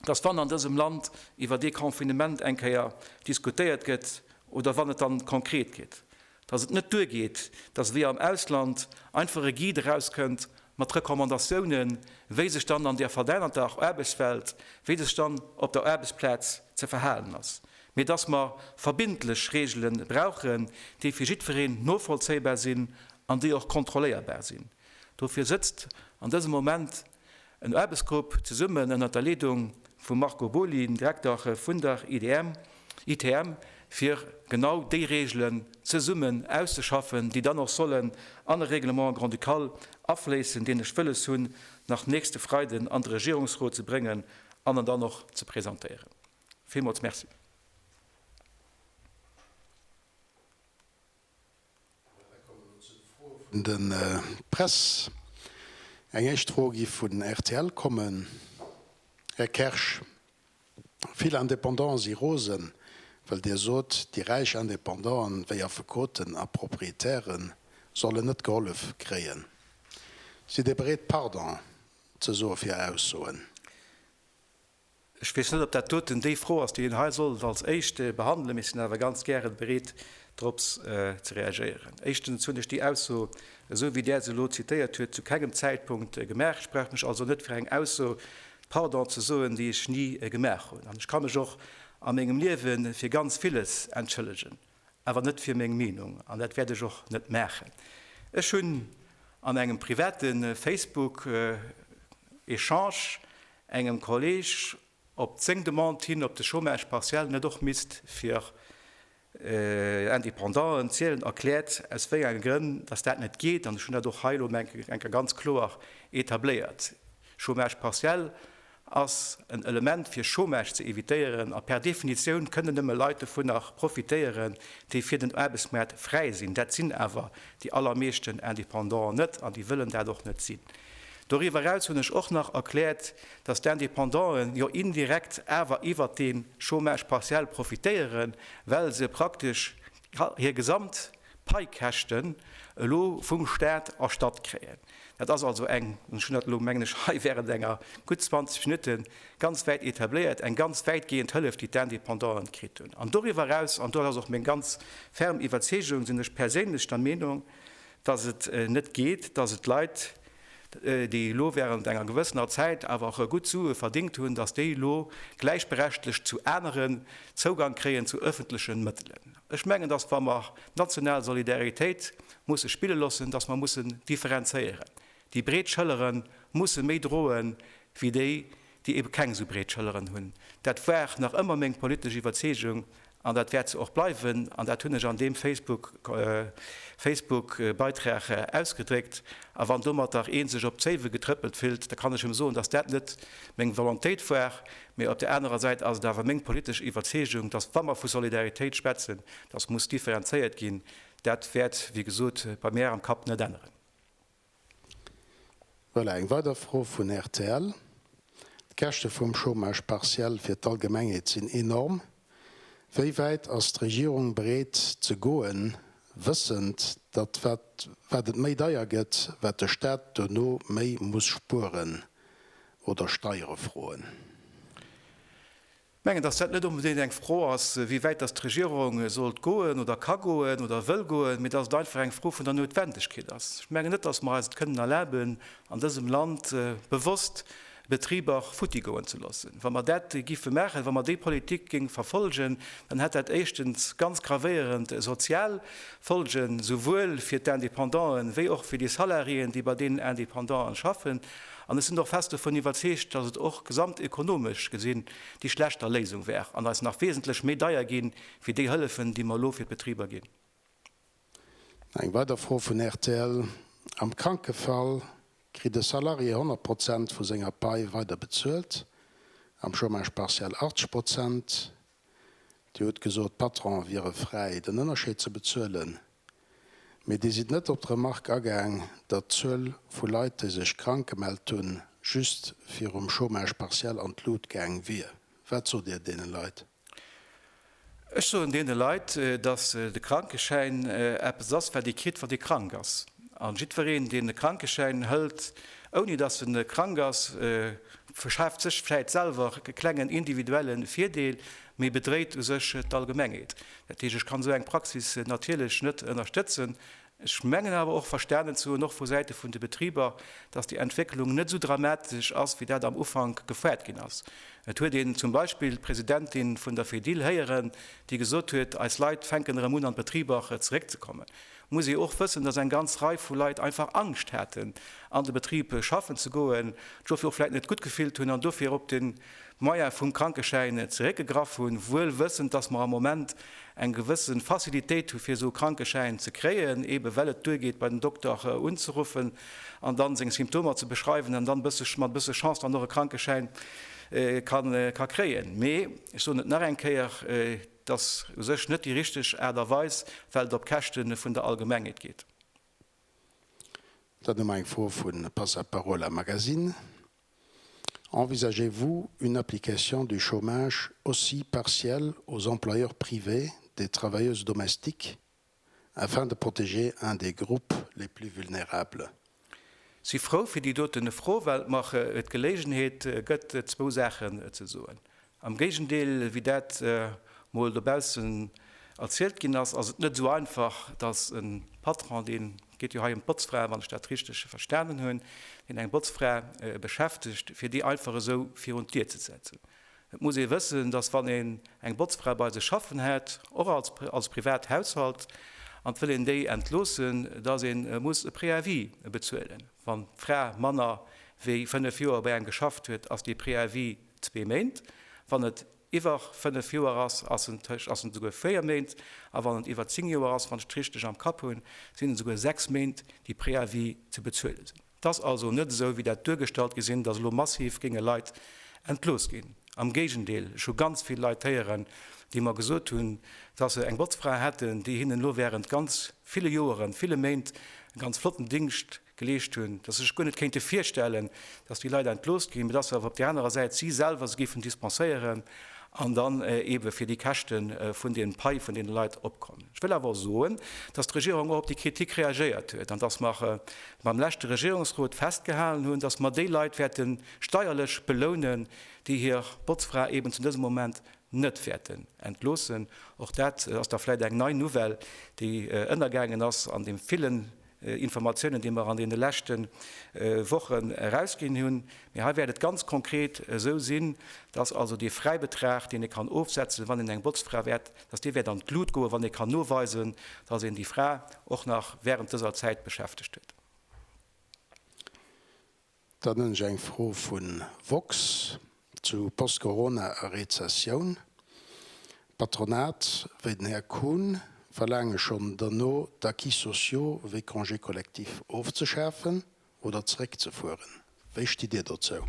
dass wann an dësem Land iwwer dee Confinement eng Kéier diskutéiert gëtt oder wann et dann konkret gëtt, dass et net duergeet, dass wéi am Ausland einfach e Guide erauskënnt mat Recommandatiounen, wéi sech dann an där verännerter Aarbechtswelt, wéi sech dann op der Aarbechtsplaz ze verhalen ass, mee dass mer verbindlech Regele brauchen, déi fir jiddwereen novollzéibar sinn an déi och kontrolléierbar sinn. Dofir sëtzt an dësem Moment En Aarbechtsgrupp, zesummen ënnert der Leedung vum Marco Boly, dem Direkter vun der ITM, fir genau déi Reegelen zesummen auszeschaffen, déi dann och sollen an e Règlement grand-ducal afléissen, deen ech wëlles hunn, nach nächste Freiden an de Regierungsrot ze bréngen an en dann och ze presentéieren. Villmools Merci. Mir kommen elo zu de Froe vun der Press. Eng éischt Fro géif vun rtl kommen. Här Kersch, vill Indépendanten si rosen, well Dir sot, déi räich Indépendanten, wéi Affekoten a Proprietäre sollen net gehollef kréien. Sidd Dir bereet Pardon ze soe fir Äer Aussoen? Ech weess net, ob dat doten déi Fro ass, déi een hei sollt als éischt behandelen, mee ech sinn awer ganz gären bereet, drops ze reagéieren. Éischtens hunn ech déi Ausso, esou wéi Der se elo zitéiert huet, zu kengem Zäitpunkt gemaach. Ech brauch mech also net fir eng Ausso pardon ze soen, déi ech ni gemaach hunn. An ech ka mech och a mengem Liewe fir ganz villes entschëllegen. awer net fir meng Meenung, an dat wäert ech och net maachen. Ech hunn an engem private Facebook Echange engem Kolleg op seng Demande hin, ob de Chômage partiel net och misst fir Independanten zielen, erkläert aus wéi enge Grënn datt dat net geet, an ech hunn dat och hei elo menke ganz kloer etabléiert. Chômage partiel ass en Element fir Chômage ze evitéieren a per Definitioun kënnen nëmme Leit dovunner profitéieren, déi fir den Aarbechtsmaart fräi sinn. Dat sinn awer déi allermeeschten Indépendanten net an déi wëllen dat och net sinn. Doriwwer eraus hunn ech och nach erkläert, dass d'Indépendanten jo indirekt awer iwwert dee Chômage partiel profitéieren, well se praktesch hir gesamt Paikäschten elo vum Staat erstatt kréien. Dat ass also eng, an ech hunn dat elo, mengen ech, hei während enger gutt 20 Minutte ganz wäit etabléiert, eng ganz wäitgeeënd Hëllef, déi d'Indépendante kritt hunn. An doriwwer eraus, an dat ass och meng ganz ferm Iwwerzeegung, sinn ech perséinlech der Meenung, dass et net geet, dass et Leit, déi elo während enger gewëssener Zäit awer och gutt Sue verdéngt hunn, datt déi elo gläichberechtlegt zu aneren Zougang kréien zu ëffentlechen Mëttelen. Ech mengen, datt wa mer d'national Solidaritéit musse spille loossen, datt mer mussen differenzéieren. Déi breet Schëllere musse méi droe wéi déi, déi ebe keng esou breet Schëlleren hunn. Dat war nach ëmmer meng politesch Iwwerzeegung An dat wäert se och bleiwen. An dat hunn ech an deem Facebook Facebook-Beitrag ausgedréckt. A wann domatter ee sech op d'Zéiwe getrëppelt fillt, da kann ech em soen, dass dat net meng Volontéit war. Mee op der anerer Säit ass et awer meng politesch Iwwerzeegung, dass wa mer vu Solidaritéit schwätzen, dass muss differenzéiert ginn. Dat wäert, wéi gesot, bei mär am Kapp net änneren. Voilà, eng weider Fro vun rtl, D'Käschte vum Chômage partiel fir d'Allgemengheet sinn enorm. Wéi wäit ass d'Regierung bereet ze goen, wëssend, datt wat et méi deier gëtt, wat de Staat duerno méi muss spueren oder Steiere froen? mengen, dass dat net onbedéngt eng Fro ass, wéi wäit dass d'Regierung sollt goen oder ka goen oder wëll goen, mee dass et einfach eng Fro vun der Noutwendegkeet ass. Ech mengen net, dass mer eis et kënnen erlaben, an dësem Land bewosst Betriber futtigoen ze loossen. Wa mer dat géife maachen, wa mer déi Politik géinge verfolgen, dann hätt dat éischtens ganz gravéierend sozial Folgen, souwuel fir d'Independanten wéi och fir déi Salariéen, déi bei deenen Independanten schaffen. An ech sinn och fest dovun iwwerzeegt, dass et och gesamtekonomesch gesinn déi schlechter Léisung wär an eis nach wesentlech méi deier gi wéi déi Hëllefen, déi mer elo fir d'Betriber ginn. No eng weider Fro vun rtl, Am Krankefall kritt e Salarié 100 Prozent vu senger Pai weider bezuelt, am Chômage partiel 80 Prozent, Dir hutt gesot, d'Patronen wiere fräi, den Ënnerscheed ze bezuelen. Mee Dir sidd net op d'Remark agaang, datt d'Zuel vu Leit, déi sech krank gemellt hunn, just virum Chômage partiel an d'Lut gaang wier. Wat sot Dir deene Leit? Ech soen deene Leit, datt de Krankeschäin eppes ass, wat ee kritt, wann ee krank ass. An jiddwereen, deen e Krankeschäin hëlt, ouni dass en krank ass, verschaaft sech vläit selwer e klengen individuelle Virdeel, mee bedréit u sech d'Allgemengheet. Dat heescht, ech kann esou eng Praxis natierlech net ënnerstëtzen. Ech mengen awer och verstanen ze hunn, och vu Säite vun de Betriber, dass déi Entwécklung net esou dramatesch ass, wéi dat am Ufank gefouert ginn ass. Et huet een zum Beispill d'Presidentin vun der Fedil héieren, déi gesot huet, eis Leit fänken erëm un, an d'Betriber zeréckzekommen. muss ee och wëssen, dass eng ganz Rei vu Leit einfach Angscht haten, an de Betrib schaffen ze goen, sech dofir och vläit net gutt gefillt hunn an dofir op de Moyen vum Krankeschäin zeréckgegraff hunn, wuel wëssend, dass mer am Moment eng gewësse Facilitéit hu fir esou e Krankeschäin ze kréien, eebe well et duergeet, bei den Dokter unzeruffen an da seng Symptomer ze beschreiwen an dann bësse mat e bësse Chance dann och e Krankeschäin ka kréien. Mee ech soen et nach eng Kéier. Et ass u sech net déi richteg Aart a Weis, well et op Käschte vun der Allgemengheet geet. Dann hu mer eng Fro vu Passaparola Magazine, Envisagez-vous une application du chômage aussi partiel aux employeurs privés des travailleuses domestiques afin de protéger un des groupes les plus vulnérables. Si frou fir déi doten Fro, well et mer d'Geléigenheet gëtt zwou Saachen ze soen. Am Géigendeel wéi dat mol dobaussen erzielt ginn ass, ass et net esou einfach, datt e Patron, deen, et geet jo hei ëm d'Botzfrae wann ech dat richteg verstanen hunn, deen eng Botzfra beschäftegt, fir déi einfach esou virun d'Dier ze setzen. Et muss ee wëssen, datt wann een eng Botzfra bei sech schaffen hätt, och als als privat Haushalt, an et wëll een déi entloossen, datt ee muss e Préavis bezuelen. Wann d'Fra manner wéi fënnef Joer bei engem geschafft huet, ass dee Préavis zwee Méint, wann et iwwer fënnef Joer ass, ass en tësch ass en esouguer véier Méint, a wann et iwwer zéng Joer ass, wann ech et richteg am Kapp hunn, sinn et esouguer sechs Méint, déi Préavis ze bezuele sinn. 't ass also net esou, wéi dat duergestallt gi sinn, dass elo massiv géinge Leit entlooss ginn. Am Géigendeel, ech hu ganz vill Leit héieren, déi mer gesot hunn, dass se eng Botzfra hätten, déi hinnen elo während ganz ville Joeren, ville Méint e ganz flotten Dingscht geleescht hunn, dass se sech guer net kéinte virstellen, dass déi Leit entlooss ginn, mee dass se awer op där anerer Säit si selwer se géifen dispenséieren an dann eebe fir déi Käschte vun deem Pai vun deene Leit opkomm. Ech wëll awer och soen, dass d'Regierung och op déi Kritik reagéiert huet an dass mer mam leschte Regierungsrot festgehalen hunn, dass mer déi Leit wäerte steierlech belounen, déi hir Botzfra eben zu dësem Moment net wäerten entloossen. Och dat ass da vläicht eng nei Nouvelle, déi ënnergaangen ass an deem villen Informatiounen, déi mer an deene leschte Wochen erausginn hunn. Mee hei wäert et ganz konkret esou sinn, dass also dee Fräibetrag, deen ee kann ofsetzen, wann een eng Botzfra wäert, dass dee wäert an d'Lut goen, wann ee kann noweisen, dass een déi Fra och nach während dëser Zäit beschäftegt huet. Dann hunn ech eng Fro vu Vox zu Post-Corona a Rezessioun. D'Patronat, wéi den Här Kuhn, verlaange schonn derno d'Acquis sociaux wéi Congé collectif ofzeschafen oder zeréckzefueren. Wéi stitt Dir dozou?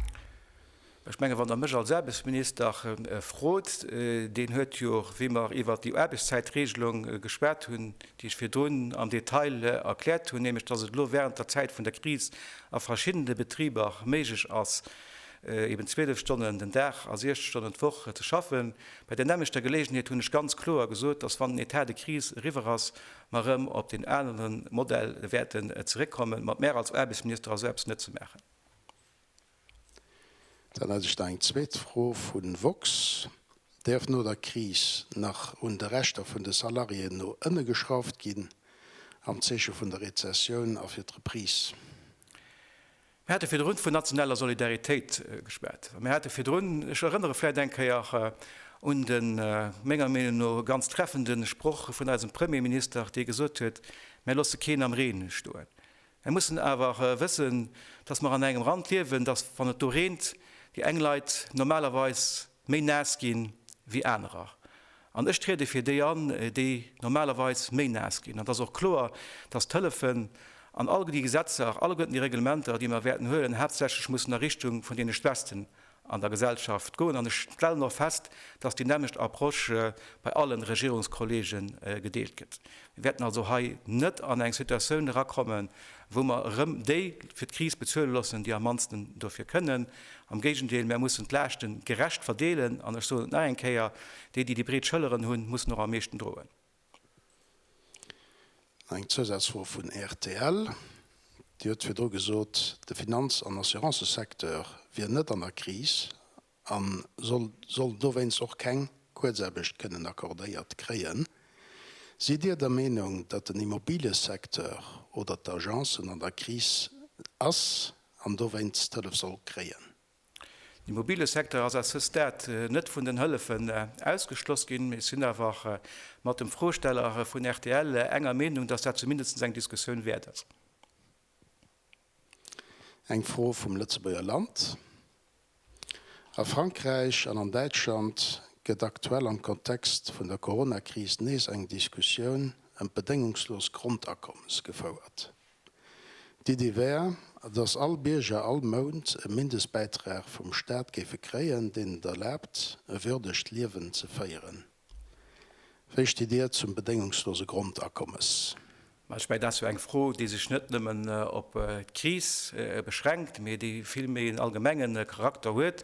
Ech mengen, wann Der mech als Aarbechtsminister frot, deen huet jo, wéi mer iwwert déi Aarbechtszäitregelung geschwat hunn, déi ech virdrun am Detail erkläert hunn, nämlech datt et elo während der Zäit vun der Kris a verschiddene Betriber méiglech ass, eben 12 Stonnen den Dag a 60 Stonnen d'Woch ze schaffen. Bei där nämmlechter Geleegenheet hunn ech ganz kloer gesot, datt, wann den Etat de crise eriwwer ass, mer erëm op deen aneren Modell wäerten zeréckkommen. Ma d'Mär als Aarbechtsminister ass esou eppes net ze maachen. Dann hätt ech nach eng zweet Fro vu Vox, Däerf no der Kris nach un de Rechter vun de Salariéen no ënne geschrauft ginn, am Zeeche vun der Rezessioun a fir d'Reprise? Mir hate virdrun vun nationaler Solidaritéit geschwat. Mir hate virdrun, ech erënnere vläicht eng Kéier un de menger Meenung no ganz treffende Sproch vun eisem Premierminister, dee gesot huet, Mir loosse keen am Reen stoen. Mer mussen awer wëssen, dass mer an engem Rand liewen, dass wann et do reent, déi eng Leit normalerweis méi naass gi wéi anerer. An ech triede fir déi an, déi normalerweis méi naass ginn. An et ass och kloer, dass d'Hëllefen an all déi Gesetzer, alleguerten déi Reglementer, déi mer wäerten huelen, haaptsächlech mussen a Richtung vun deene Schwächsten an der Gesellschaft goen. An ech stellen och fest, dass déi nämmlecht Approche bei allen Regierungskollege gedeelt gëtt. Mir wäerten also hei net an eng Situatioun erakommen, wou mer erëm déi fir d'Kris bezuele loossen, déi am mannsten dofir kënnen. Am Géigendeel, mer mussen d'Laaschte gerecht verdeelen. An ech soen et nach eng Kéier, Déi, déi déi breet Schëlleren hunn, mussen och am meeschten droen. Eng Zousazfro vun rtl, Dir hutt virdru gesot, de Finanz an Assurancesecteur wier net an der Kris a soll dowéinst och keng Kuerzaarbecht kënnen accordéiert kréien. Sidd Dir der Meenung, datt den Immobiliësecteur oder d'Agencen an der Kris ass an dowéinst d'Hëllef soll kréien? Den Immobiliësecteur ass à ce stade net vun den Hëllefen ausgeschloss ginn. Mir sinn awer mat dem Froesteller vun rtl enger Meenung, dass dat zumindest eng Diskussioun wäert ass. Eng Fro vum Lëtzebuerger Land, A Frankräich an an Däitschland gëtt aktuell am Kontext vun der Coronakris nees eng Diskussioun ëm d'bedéngungslos Grondakommes gefouert. D'Iddi wär, datt all Bierger all Mount e Mindestbäitrag vum Staat géife kréien, deen et erlaabt, e würdegt Liewen ze féieren. Wéi stitt Dir zum bedéngungslose Grondakommes? Mä ech mengen, dat ass jo eng Fro, déi sech net nëmmen op d'Kris beschränkt, mä déi vill méi en allgemenge Charakter huet.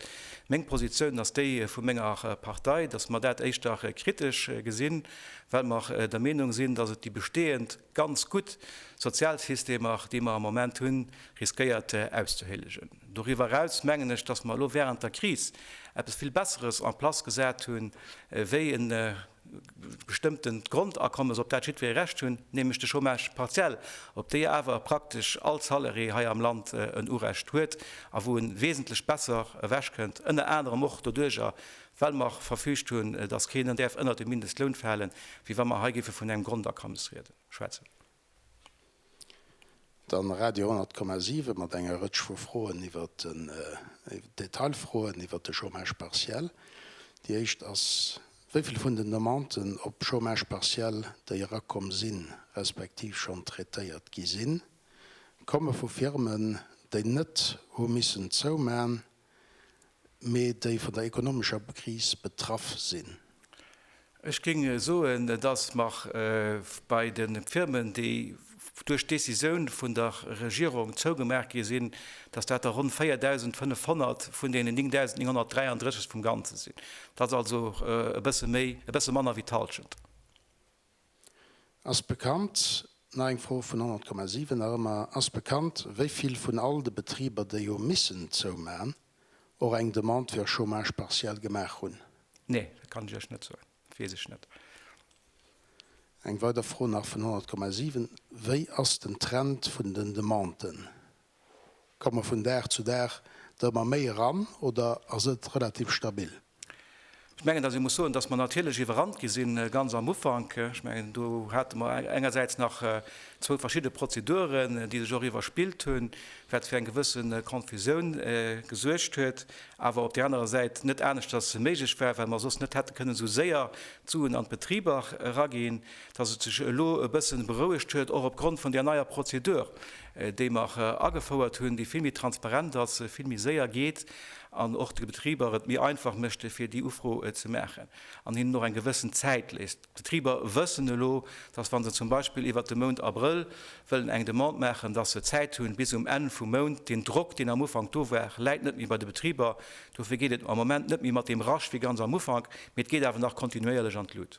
Meng Positioun ass déi vu menger Partei, datt mer dat éischter kritesch gesinn, well mer der Meenung sinn, datt et déi bestehend, Ganz gutt Sozialsystemer, déi mer am Moment hunn, riskéiert auszehéllegen. Doriwwer eraus mengen ech, dass mer elo während der Kris eppes vill Besseres en place gesat hu wéi e bestëmmtent Grondakommes, op dat jiddweree Recht hunn, nämlech de Chômage partiel, op dee awer praktesch all Saleré hei am Land en Urecht huet a wou e wesentlech besser ewechkënnt, ënner anerem och doduerjer, well mer verfüügt hunn, dass keen däerf ënnert de Mindestloun falen, wéi wa mer hei géife vun engem Grondakommes rieden, schwätzen. Dann Radio 100,7 mat enger Rëtsch vu Froen iwwert den, Detailfroen iwwert de Chômage partiel. Déi éischt ass, Wéi vill vun den Demanden op Chômage partiel, déi erakomm sinn, respektiv schonn traitéiert gi sinn, komme vu Firmen, déi net hu missen zouman, mee déi vun der ekonomescher Kris betraff sinn. Ech géing soen, et ass mar bei de Firmen, déi duerch d'Décisioun vun der Regierung zougemaach gi sinn, dass dat der ronn 4.500 vun deenen 9.933 vum Ganze sinn. Dat ass also e bësse méi, e bësse manner wéi d'Halschent. Ass bekannt, nach eng Fro vun 100,7 nach ëmmer, ass bekannt, wéi vill vun all de Betriber, déi hu missen zouman, och eng Demande fir e Chômage partiel gemaach hunn? Nee, dat kann ech Iech net soen, dat weess ech net. Eng weider Fro nach vun 100,7, Wéi ass den Trend vun den Demanden? Komme mer vun Dag zu Dag do ëmmer méi eran oder ass et relativ stabil? Ech mengen, datt ee muss soen, datt mer natierlech iwwerrannt gi sinn ganz am Ufank. Ech mengen, do hate mer engersäits nach zwou verschidde Prozeduren, déi sech och iwwerspillt hunn, wat fir eng gewësse Konfusioun gesuergt huet, awer op där anerer Säit net aneschters méiglech war, well mer soss net hätte kënnen esou séier d'Suen an d'Betriber eraginn. Datt et sech elo e bësse berouegt huet, och opgrond vun där neier Prozedur, déi mer agefouert hunn, déi vill méi transparent ass, vill méi séier geet an och de Betriber et méi einfach mécht fir déi Ufro ze maachen an hinnen och eng gewëssen Zäit léisst. D'Betriber wëssen elo, dass wa se zum Beispill iwwert de Mount Abrëll wëllen eng Demande maachen, dass se Zäit hunn bis um Enn vum Mount. Deen Drock, deen am Ufank do war, läit net méi bei de Betriber. Dofir geet et am Moment net méi mat deem Rush wéi ganz am Ufank, mee et geet awer nach kontinuéierlech an d'Lut.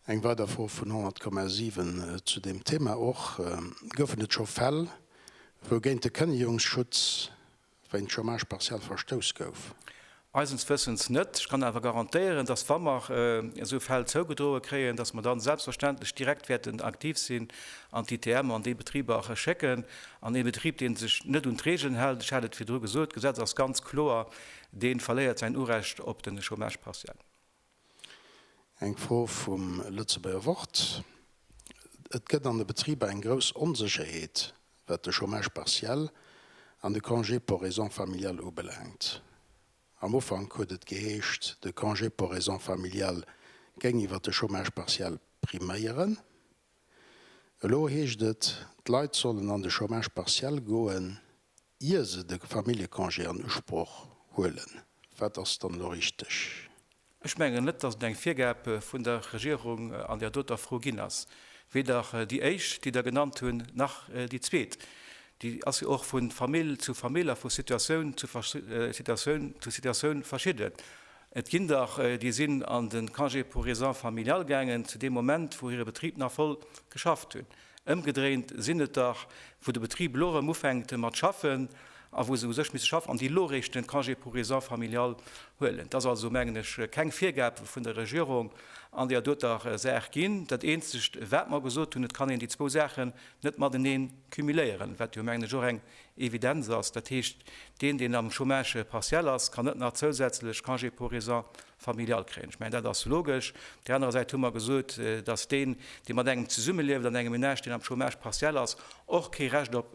Eng weider Fro vun 100,7 zu deem Thema och, Goufen et scho Fäll, wou géint de Kënnegungsschutz wéint Chômage partiel verstouss gouf? Eisens Wëssens net. Ech kann awer garantéieren, dass wa mer esou Fäll zougedroe kréien, dass mer da selbstverständlech direkt wäerten aktiv sinn an d'ITMer an déi Betriber schécken. An ee Betrib, dee sech net un d'Regeln hält, ech hat et virdru gesot, d'Gesetz ass ganz kloer, dee verléiert säin Urecht op de Chômage partiel. Eng Fro vum Lëtzebuerger Wort, Et gëtt an de Betriber eng grouss Onsécherheet, wat de Chômage partiel an de Congé pour raisons familiales ubelaangt. Am Ufank huet et geheescht, de Congé pour raisons familiales géing iwwer de Chômage partiel priméieren. Elo heescht et, d'Leit sollen an de Chômage partiel goen, ier se de Familljecongé an Usproch huelen. Wat ass dann elo richteg? Ech mengen net, dass et eng Virgab vun der Regierung an där doter Fro ginn ass, weder déi éischt, déi Der genannt hunn, nach déi zweet. Déi ass jo och vu Famill zu Famill a vu Situatioun zu Situatioun zu Situatioun verschidden. Et ginn der, déi sinn an de Congé pour raisons familiales gaangen zu deem Moment, wou hire Betrib nach voll geschafft hunn. Ëmgedréint sinn et dach, wou de Betrib elo erëm ufänkt mat schaffen a wou se u sech misse schaffen an déi elo eréischt den Congé pour raisons familiales huelen. Et ass also, mengen ech, keng Virgab vun der Regierung an där doter Saach ginn. Dat Eenzegt, wat mer gesot hunn, et kann een déi zwou Saachen net mateneen cumuléieren, wat jo, mengen ech, och eng Evidenz ass. Dat heescht, deen, deen am Chômage partiel ass, kann net nach zousätzlech Congé pour raisons familial kréien. Ech mengen, dat ass logesch. Op där anerer Säit hu mer gesot, dass deen, dee mat engem zesummelieft an engem Ménage, deen am Chômage partiel ass, och kee Recht op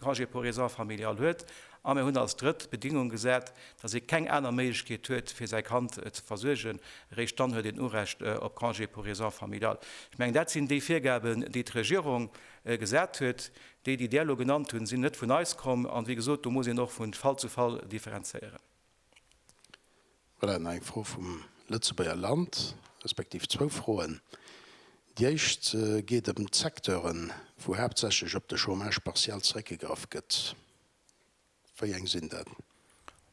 Congé pour raisons familiales huet. A mir hunn als drëtt d'Bedingung gesat, dass ee keng aner Méiglechkeet huet, fir säi Kand ze versuergen, eréischt dann huet een Urecht op Congé pour raisons familiales. Ech mengen, dat sinn déi Virgaben, déi d'Regierung gesat huet. Déi, déi Der elo genannt hunn, sinn net vun eis komm. A wéi gesot, do muss een och vu Fall zu Fall differenzéieren. Voilà, nach eng Fro vum Lëtzebuerger Land, respektiv zwou Froen. Déi éischt geet ëm d'Secteuren, wou haaptsächlech op de Chômage partiel zeréckgegraff gëtt. Wéi eng sinn dat?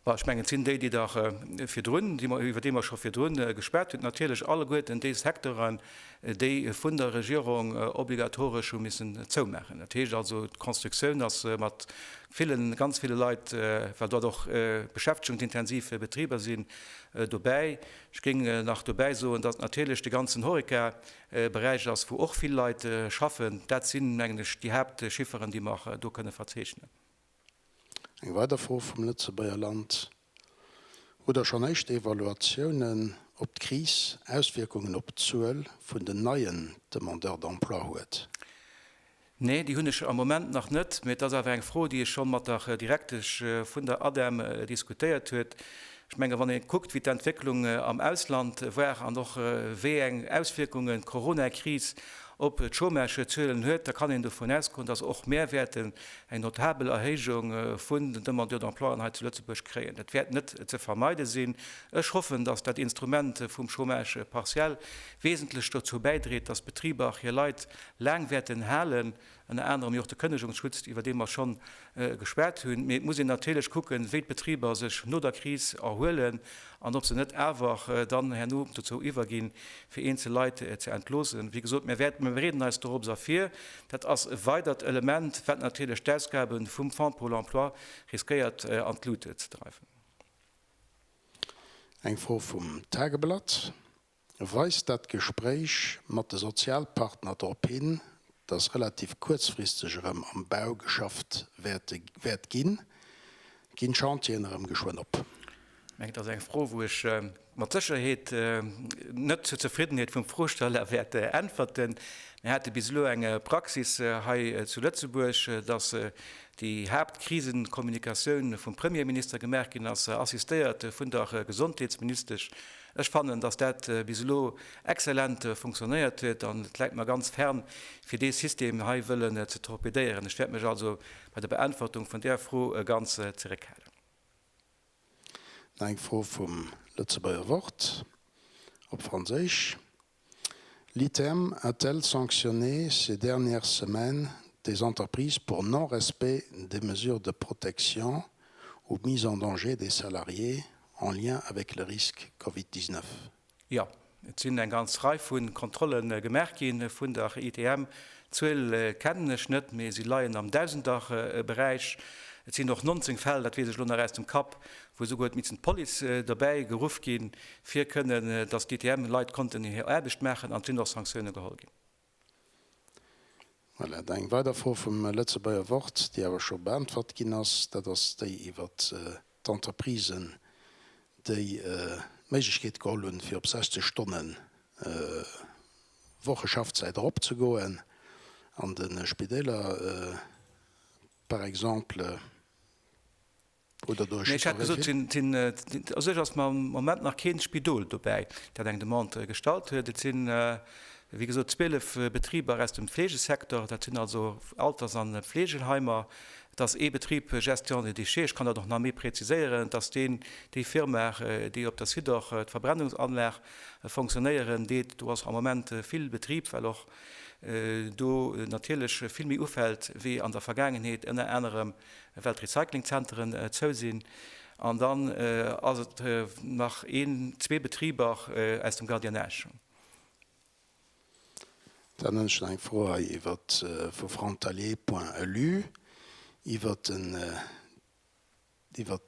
Ech mengen, et sinn déi, déi Der virdrun, iwwer déi mer scho virdrun geschwat hunn, natierlech alleguerten déi Secteuren, déi vun der Regierung obligatoresch hu missen zoumaachen. Dat heescht also, d'Constructioun ass mat villen, ganz ville Leit, well dat och beschäftigungsintensiv Betriber sinn, dobäi. Ech géing nach dobäi soen, dass natierlech de ganzen Horeca-Beräich ass, wou och vill Leit schaffen. Dat si mengen ech déi Haaptchifferen, déi mer do kënne verzeechnen. Eng weider Fro vum Lëtzebuerger Land. Oder schonn éischt Evaluatiounen, ob d'Kris Auswierkungen op d'Zuel vun den neien Demandeurs d'emploi huet? Nee, déi hunn ech am Moment nach net. Mee et ass awer eng Fro, déi ech scho mat der Direktesch vun der ADEM diskutéiert huet. Ech menge wann ee kuckt, wéi d'Entwécklung am Ausland war an och wéi eng Auswierkungen d'Coronakris op d'Chômagezuelen huet, da kann een dovun ausgoen, dass och mär wäerten eng notabel Erhéijung vun den Demandeurs d'emploien hei zu Lëtzebuerg kréien. Dat wäert net ze vermeide sinn. Ech hoffen, dass dat Instrument vum Chômage partiel wesentlech dozou bäidreet, dass d'Betriber hir Leit laang wäerten halen, ënner anerem jo och de Kënnegungsschutzt, iwwer dee mer schonn Gespaart hunn. Mee et muss een natierlech kucken, wéi d'Betriber sech no der Kris erhuelen an ob se net awer dann herno dozou iwwerginn, fir eenzel Leit ze entloossen. Wéi gesot, mir wäerten, mir bereeden eis dorops a vir. Dat ass e weidert Element, wat natierlech d'Ausgabe vum Fonds pour l'emploi riskéiert an d'Lut ze dreiwen. Eng Fro vum Tageblatt. weist dat Gespréich mat de Sozialpartner drop hin, dass relativ kuerzfristeg erëm am Bau geschafft wäert ginn. Ginn d'Chantieren erëm geschwënn op? Ech mengen, dat ass eng Fro, wou ech mat Sécherheet net zur Zefriddenheet vum Froesteller wäert äntwerten. Mir hate bis elo eng Praxis hei zu Lëtzebuerg, dass déi Haaptkrisenkommunikatioun vum Premierminister gemaach ginn ass, assistéiert vun der Gesondheetsministesch, Ech fannen, dass dat bis elo exzellent funktionéiert huet, an et läit mer ganz fern, fir dee System hei wëllen ze torpedéieren. Ech wäert mech also bei der Beäntwertung vun där Fro ganz zeréckhalen. Nach eng Fro vum Lëtzebuerger Wort op Franséisch. L'ITEM a-t-elle sanctionné ces dernières semaines des entreprises pour non-respect des mesures de protection ou mise en danger des salariés en lien avec le risque Covid 19? Jo, et sinn eng ganz Rei vu Kontrolle gemaach gi vun der ITEM. D'Zuel kennen ech net, mee se leien am Dausenderberäich. Et sinn och 19 Fäll, dat weess ech elo nach aus dem Kapp, wou souguer et missen d'Police dobäi geruff ginn, fir kënnen, dass d'ITM Leit konnten hir Aarbecht maachen an et sinn och Sanktioune geholl ginn. Voilà, da eng weider Fro vum Lëtzebuerger Wort, déi awer scho beäntwert ginn ass. Dat ass déi iwwert d'Entreprisen, déi d'Méiglechkeet geholl hunn, fir op 60 Stonne Woche Schaffzäit eropzegoen an de Spideeler par exemple. oder do ech hat gesot sinn a sech ass mam Moment nach keen Spidol dobäi, dat eng Demande gestallt huet. Et sinn, wéi gesot, 12 Betriber aus dem Fleegesecteur, dat sinn also Alters an Fleegeheimer. Et ass ee Betrib Gestion des déchets, ech kann dat och nach méi präziséieren, et ass deen, déi Firma, déi op der Site och d'Verbrennungsanlag fonctionnéieren deet. Do ass am Moment vill Betrib, well och do natierlech vill méi ufält wéi an der Vergaangenheet, ënner anerem well d'Recyclingzenteren zou sinn. An dann ass et nach een, zwee Betriber aus dem Gardiennage. Dann hunn ech nach eng Fro hei iwwer vu Frontalier Point Elu iwwer den, iwwer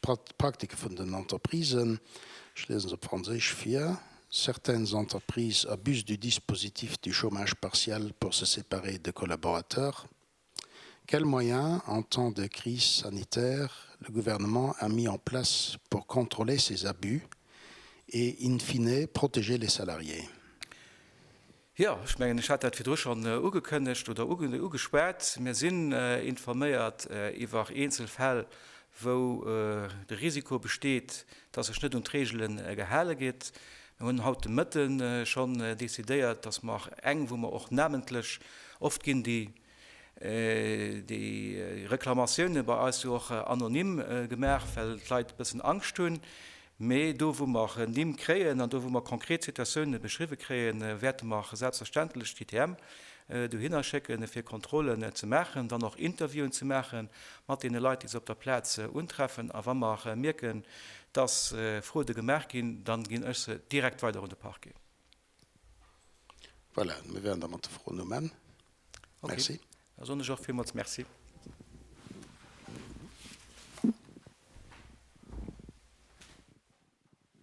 d'Praktike vun den Entreprisen. Ech liesen se op Franséisch vir, Certaines entreprises abusent du dispositif du chômage partiel pour se séparer de collaborateurs. Quels moyens, en temps de crise sanitaire, le Gouvernement a mis en place pour contrôler ces abus et, in fine, protéger les salariés? Jo, ech mengen, ech hat dat virdru schonn ugekënnegt oder ugeschwat. Mir sinn informéiert iwwer eenzel Fäll, wou de Risiko besteet, dass sech net un d'Reegele gehale gétt. Mir hunn haut de Mëtte schonn decidéiert, dass mer och eng, wou mer och namentlech, oft ginn déi Reklamatioune bei eis jo och anonym gemaach, well d'Leit e bëssen Angscht hunn, mee do wou mer Nimm kréien an do wou mer konkret Situatioune beschriwwe kréien, wäerte mer selbstverständlech d'ITM dohinner schécken fir Kontrollen ze maachen, dann och Interviewen ze maache mat deene Leit, déi se op der Plaz untreffen. A wa mer mierken, dass Froede gemaach ginn, dann ginn ech se direkt weider un de Parquet. Voilà, mir wären da mat de Froen um Enn. Okay, da soen ech och villmools Merci.